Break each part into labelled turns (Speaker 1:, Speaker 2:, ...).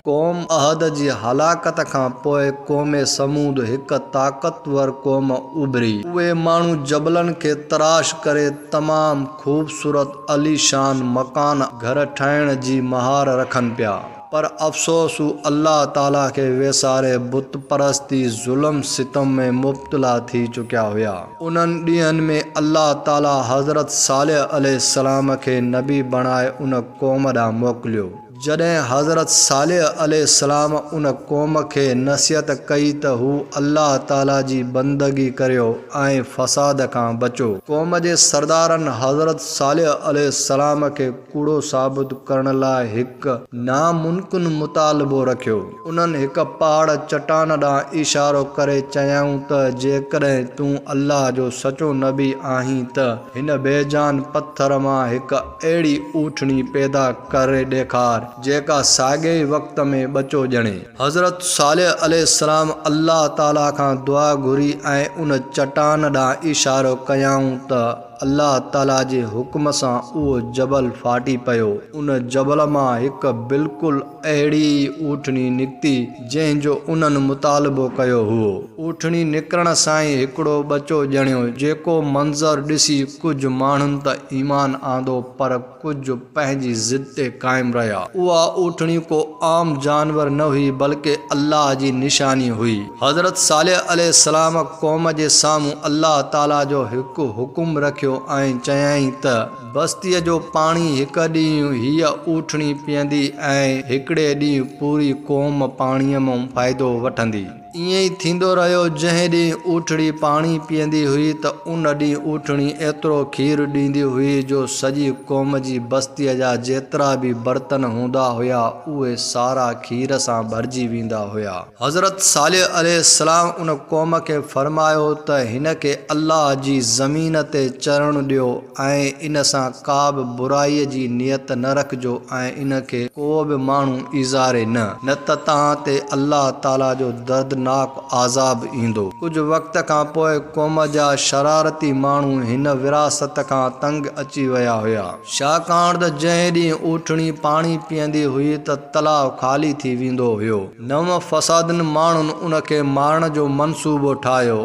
Speaker 1: قوم عاد جي هلاڪت کان پوء قوم ثمود هڪ طاقتور قوم اڀري. اهي ماڻهو جبلن کي تراش ڪري تمام خوبصورت عاليشان مڪان گهر ٺاهڻ جي مهار رکن پيا پر افسوس هو الله تعاليٰ کي ويساري بت پرستي ظلم ستم ۾ مبتلا ٿي چڪيا هيا. انهن ڏينهن ۾ الله تعاليٰ حضرت صالح عليه السلام کي نبي بڻائي ان قوم ڏانهن موڪليو. جڏهن حضرت صالح عليه السلام ان قوم کي نصيحت ڪئي ته هو الله تعالي جي بندگي ڪريو ۽ فساد کان بچو. قوم جي سردارن حضرت صالح عليه السلام کي ڪوڙو ثابت ڪرڻ لاء هڪ ناممڪن مطالبو رکيو. انهن هڪ پهاڙ، چٽان، ڏانهن اشارو ڪري چيائون ته جيڪڏهن تون الله جو سچو نبي آهين ته هن بي جان پٿر مان هڪ اهڙي اوٺڻي پيدا ڪري ڏيکار، جيڪا ساڳئي ئي وقت ۾ ٻچو ڄڻي. حضرت صالح عليه السلام الله تعاليٰ کان دعا گهري ۽ ان چٽان ڏانهن اشارو ڪيائون ته الله تعاليٰ جي حڪم سان اهو جبل ڦاٽي پيو. ان جبل مان هڪ بلڪل اهڙي ئي اوٺڻي نڪتي، جنهن جو انهن مطالبو ڪيو هئو. اوٺڻي نڪرڻ سان ئي هڪڙو ٻچو ڄڻيو، جيڪو منظر ڏسي ڪجهه ماڻهن ته ايمان آندو پر ڪجهه پنهنجي ضد تي قائم رهيا. اها اوٺڻي ڪو عام جانور نه هئي بلڪ الله جي نشاني هئي. حضرت صالح عليه السلام قوم جي سامهون الله تعالي جو هڪ حڪم رکيو ۽ چيائين ته بستيء جو پاڻي هڪ ڏينهن هيء اوٺڻي پيئندي ۽ هڪڙي ڏينهن پوري قوم پاڻيء مون فائدو وٺندي. ائين ئي ٿيندو رهيو. جنهن ڏينهن اوٺڙي پاڻي پيئندي هئي ته ان ڏينهن اوٺڻي ايترو کير ڏيندي هئي جو سڄي قوم جي بستيء جا جيترا به برتن هوندا هيا اهي سارا کير سان ڀرجي ويندا هيا. حضرت صالح عليه السلام ان قوم کي فرمايو ته هن کي الله جي زمين تي چرڻ ڏيو. ۽ ان سان ڪا به برائيء جي نيت نه رکجو ۽ ان کي ڪو به ماڻهو ايذاري نه. نه ته توهان تي الله تعاليٰ جو دردناڪ عذاب ايندو. ڪجهه وقت کان پوء قوم جا شرارتي ماڻهو هن وراثت کان تنگ اچي ويا هيا. ڇاڪاڻ ته جنهن ڏينهن اوٺڻي پاڻي پيئندي هئي ته تلاء خالي ٿي ويندو هيو. نو فسادين ماڻهن ان کي مارڻ جو منصوبو ٺاهيو.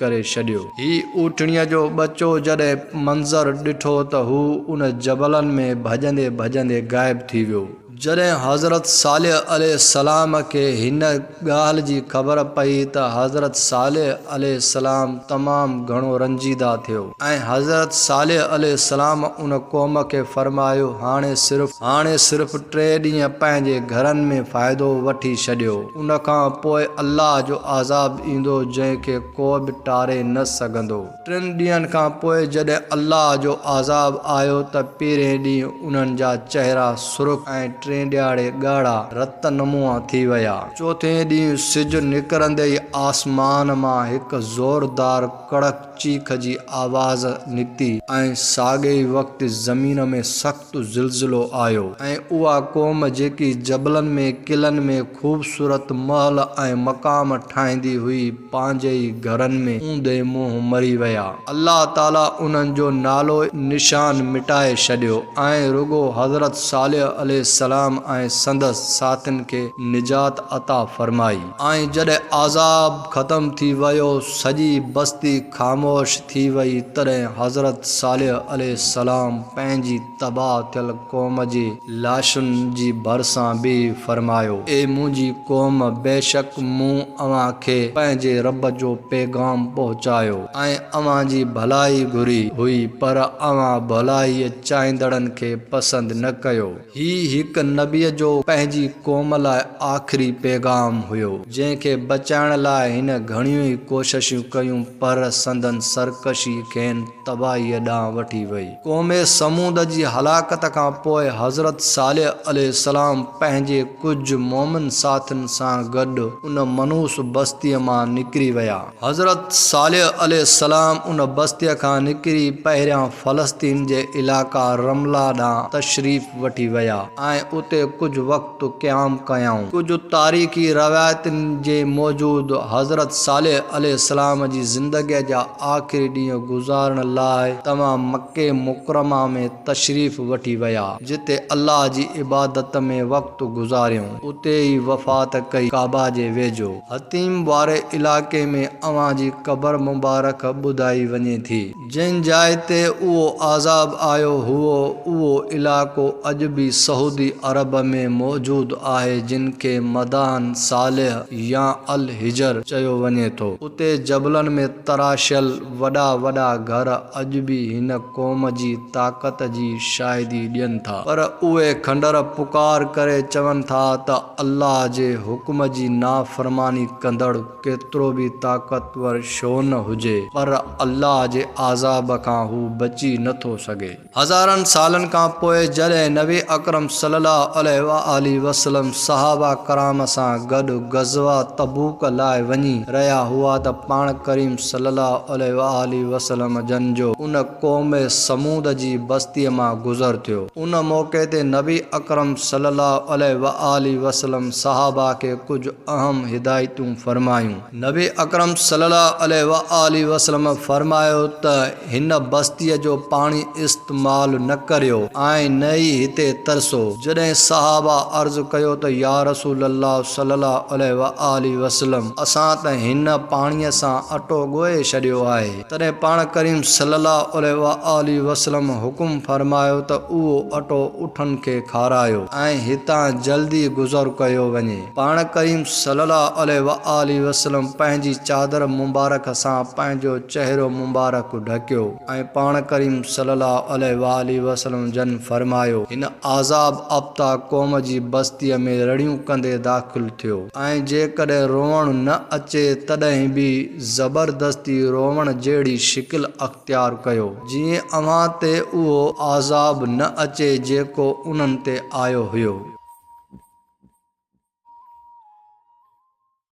Speaker 1: ڪري ڇڏيو. هي اوٺڻيء جو ٻچو جڏهن منظر ڏٺو ته هو ان جبلن ۾ ڀڄندي ڀڄندي غائب ٿي ويو. جڏهن حضرت صالح عليه السلام کي هن ڳالهه جي خبر پئي ته حضرت صالح عليه السلام تمام گهڻو رنجيده ٿيو ۽ حضرت صالح عليه السلام ان قوم کي فرمايو هاڻي صرف هاڻي صرف ٽي ڏينهن پنهنجي گهرن ۾ فائدو وٺي ڇڏيو. ان کان پوء الله جو عذاب ايندو جنهن کي ڪو به ٽاري نه سگهندو. ٽن ڏينهن کان پوء جڏهن الله جو عذاب آيو ته پهرين ڏينهن انهن جا چهرا سرخ ۽ ٽئين ڏهاڙي ڳاڙها رت نمونء ٿي ويا. چوٿين ڏينهن سج نڪرندي ئي آسمان مان هڪ زوردار ڪڙڪ چيخ جي آواز نڪتي ۽ ساڳئي وقت زمين ۾ سخت. سخت زلزلو آيو ۽ اها قوم جيڪي جبلن ۾ قلعن ۾ خوبصورت محل ۽ مقام ٺاهيندي هئي پنهنجي ئي گهرن ۾ اوندي منهن مري ويا. الله تعالي انهن جو نالو نشان مٽائي ڇڏيو ۽ رڳو حضرت صالح عليه السلام ۽ سندس ساٿين کي نجات عطا فرمائي ۽ جڏهن عذاب ختم ٿي ويو سڄي بستي خاموش ٿي وئي، تڏهن حضرت صالح عليه السلام پنهنجي تباهه ٿيل قوم جي لاشن جي ڀرسان بيهي فرمايو. اي منهنجي قوم! بيشڪ مون اوهان کي پنهنجي رب جو پيغام پهچايو ۽ اوهان جي ڀلائي گهري هئي، پر اوهان ڀلائيء چاهيندڙن کي پسند نه ڪيو. هي هڪ نبيء جو پنهنجي قوم لاء آخري پيغام هيو، جنهن کي بچائڻ لاء هن گهڻيون ئي ڪوششون ڪيون، پر سندن سرڪشي کين تباهيء ڏانهن وٺي وئي. قوم ثمود جي هلاڪت کان پوء حضرت صالح عليه السلام پنهنجي ڪجهه مؤمن ساٿين سان گڏ ان منحوس بستيء مان نڪري ويا. حضرت صالح عليه السلام ان بستيء کان نڪري پهريان فلسطين جي علائقه رمله ڏانهن تشريف وٺي ويا ۽ اتي ڪجهه وقت قيام ڪيائون. ڪجهه تاريخي روايتن جي موجود حضرت صالح عليه السلام جي زندگيء جا آخري ڏينهن گذارڻ لاء توهان مڪه مڪرمه ۾ تشريف وٺي ويا جتي الله جي عبادت ۾ وقت وقت گذاريون. اتي ئي وفات ڪئي ڪعبه جي ويجهو. حطيم واري علائقي ۾ اوهان جي قبر مبارڪ ٻڌائي وڃي ٿي. جنهن جاء تي اهو عذاب آيو هئو اهو علائقو اڄ به سعودي عرب ۾ موجود آهي جنهن کي مدائن صالح يا الحجر چيو وڃي ٿو. اتي جبلن ۾ تراشيل وڏا وڏا گهر اڄ به هن قوم جي طاقت جي شاهدي ڏين ٿا. پر اهي کنڊر پڪار ڪري چون ٿا ته الله جي حڪم جي نافرماني ڪندڙ ڪيترو به طاقتور ڇو نه هجي پر الله جي عذاب کان هو بچي نه ٿو سگهي. هزارن سالن کان پوء جڏهن نبي اڪرم صلي الله عليه واٰله وسلم صحابه ڪرام سان گڏ غزوه تبوڪ لاء وڃي رهيا هئا ته پاڻ ڪريم صلي الله عليه واٰله وسلم جن جو ان قوم ثمود جي بستيء مان گذر ٿيو. ان موقعي تي نبي اڪرم صلي الله عليه وآله وسلم صحابه کي ڪجهه اهم هدايتون فرمايون. نبي اڪرم صلي الله عليه وآله وسلم فرمايو ته هن بستيء جو پاڻي استعمال نه ڪريو ۽ نه ئي هتي ترسو. جڏهن صحابه عرض ڪيو ته يا رسول الله صلي الله عليه وآله وسلم اسان ته هن پاڻيء سان اٽو ڳوهي ڇڏيو آهي. تڏهن پاڻ ڪريم صلّي اللّٰه عليه واٰله وسلّم حڪم فرمايو ته اهو اٽو اٺن کي کارايو ۽ هتان جلدي گذر ڪيو وڃي. پاڻ ڪريم صلّي اللّٰه عليه واٰله وسلّم پنهنجي چادر مبارڪ سان پنهنجو چهرو مبارڪ ڍڪيو ۽ پاڻ ڪريم صلّي اللّٰه عليه واٰله وسلّم جن فرمايو. هن عذاب اپتا قوم جي بستيء ۾ رڙيون ڪندي داخل ٿيو ۽ جيڪڏهن روئڻ نه اچي تڏهن به. زبردستي روئڻ جهڙي شڪل اختيار ڪيو، جيئن اوهان تي اهو عذاب نه اچي جيڪو انهن تي آيو هيو.